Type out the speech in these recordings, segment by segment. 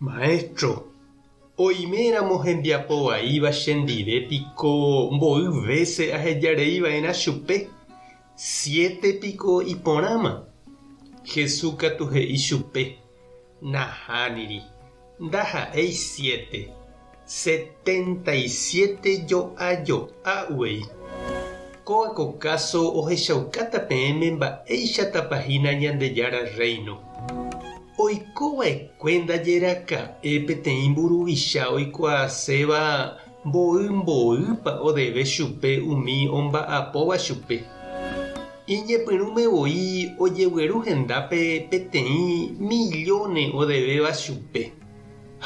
Maestro, oime ramo hembiapo vaíva chendive piko mboy vése ahejarei vaerã chupe, siete piko iporãma? Jesús katu he'i chupe, Nahániri, ndaha'éi siete. Setenta y siete jo'a jo'a uvei. Kóva ko káso ohechaukáta peẽme mba'éichatapa hína Ñandejára Rréino. Oiko va'ekue ndajeraka'e peteĩ mburuvicha oikuaaséva mboy mboýpa odeve chupe umi omba'apóva chupe. Iñepyrũme voi ojegueru hendápe peteĩ millóne odevéva chupe.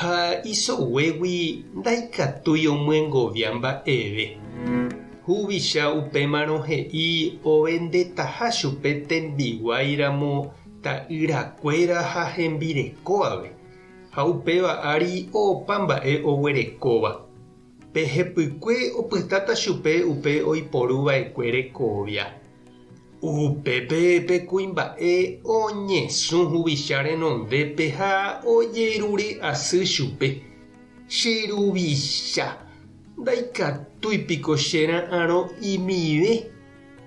Ha isoguégui ndaikatúi omyengovia mba'eve. Huvicha upémarõ he'i ovendetaha chupe tembiguái ramo ta'ýra kuéra ha hembireko ave, ha upéva ári opa mba'e oguerekóva. Pe hepykue opytáta chupe upe oiporu vaekue rekovia. Upépe pe kuimba'e oñesũ huvicha renondépe ha ojerure asy chupe, Che ruvicha, ndaikatúi piko che ra'arõ imive?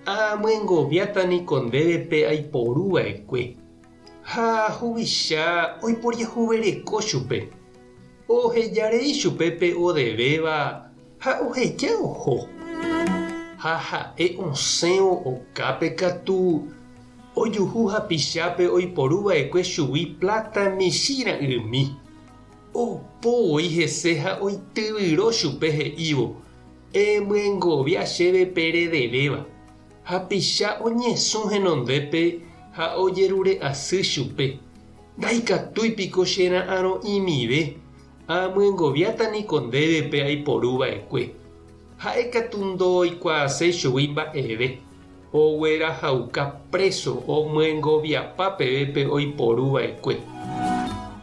Aamyengoviáta niko ndéve pe aiporu vaekue. Ha huvicha oiporiahuvereko chupe, oheja rei chupe pe odevéva ha oheja oho. Ha ha'e osẽvo okápe katu, ojuhu hapichápe oiporu vaekue chugui pláta michĩ ra'ymi. Opo voi hese ha oityvyro chupe he'ívo, Emyengovia chéve pe redevéva. Hapicha oñesũ henondépe ha ojerure'asy chupe, Ndaikatúi piko che ra'arõ imive, aamyengoviáta niko ndéve pe aiporu va'ekue. Ha'e katu ndooikuaaséi chugui mba'eve, oguerahauka préso omyengoviapa peve pe oiporu va'ekue.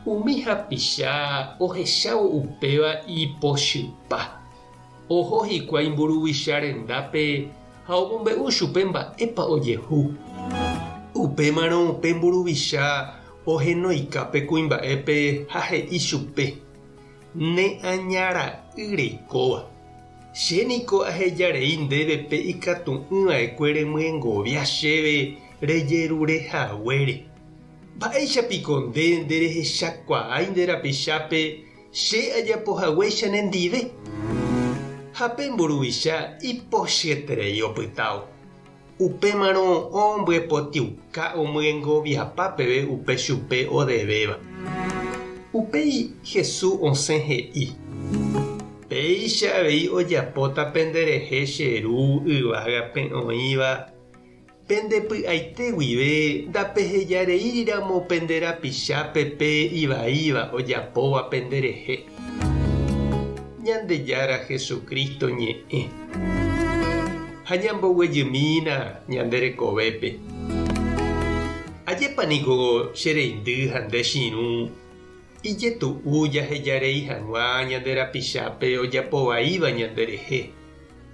Umi hapicha ohechávo upéva ipochypa. Oho hikuái mburuvicha rendápe ha omombe'u chupe mba'épa ojehu. Upémarõ pe mburuvicha ohenoika pe kuimba'épe ha he'i chupe, Ne aña ra'y reikóva, che niko aheja rei ndéve pe ikatu'ỹ va'ekue remyengovia chéve rejerure haguére. Mba'éicha piko nde nderehechakuaái nde rapichápe Che ajapo hague chenendive. Ha pe mburuvicha ipochyeterei opytávo. Upémarõ ombyepotĩuka omyengoviapa peve upe chupe odevéva. Upéi Hesu osẽ he'i, Péicha avei ojapóta penderehe che Ru yvágape oĩva. Pende py'aite guive ndapehejareíriramo pende rapichápe pe ivaíva ojapóva penderehe. Ñandejára Jesucristo ñe'ẽ ha ñamboguejymína ñande rekovépe. Ajépa niko che reindy ha nde chirũ ijetu'u jahejarei hag̃ua ñande rapichápe ojapovaíva ñanderehe.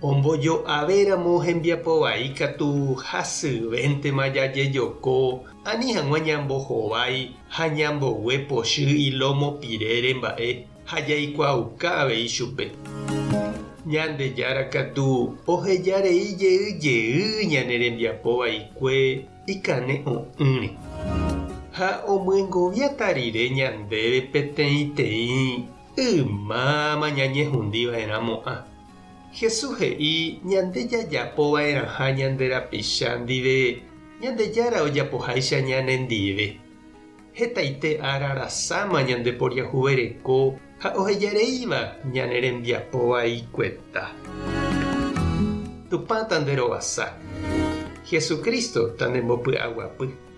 Ombojo'avéramo hembiapo vai ikatu hasyvéntema jajejoko ani hag̃ua ñambohovái ha ñambogue pochy ilómo pirére mba'e ha jaikuaauka avei chupe. Ñandejára katu oheja rei jey jey ñane rembiapo vaikue ikane o'ỹre. Ha omyengoviáta rire ñandéve peteĩteĩ ymáma ñañehundi va'erãmo'ã. Jesús he'i ñande jajapo va'erãha ñande rapicha ndive Ñandejára ojapoháicha ñanendive. Hetaite ára rasãma ñandeporiahuvereko ha ohejareíva ñane rembiapo vaikueta. Tupã tanderovasa. Jesucristo tandembopy'aguapy.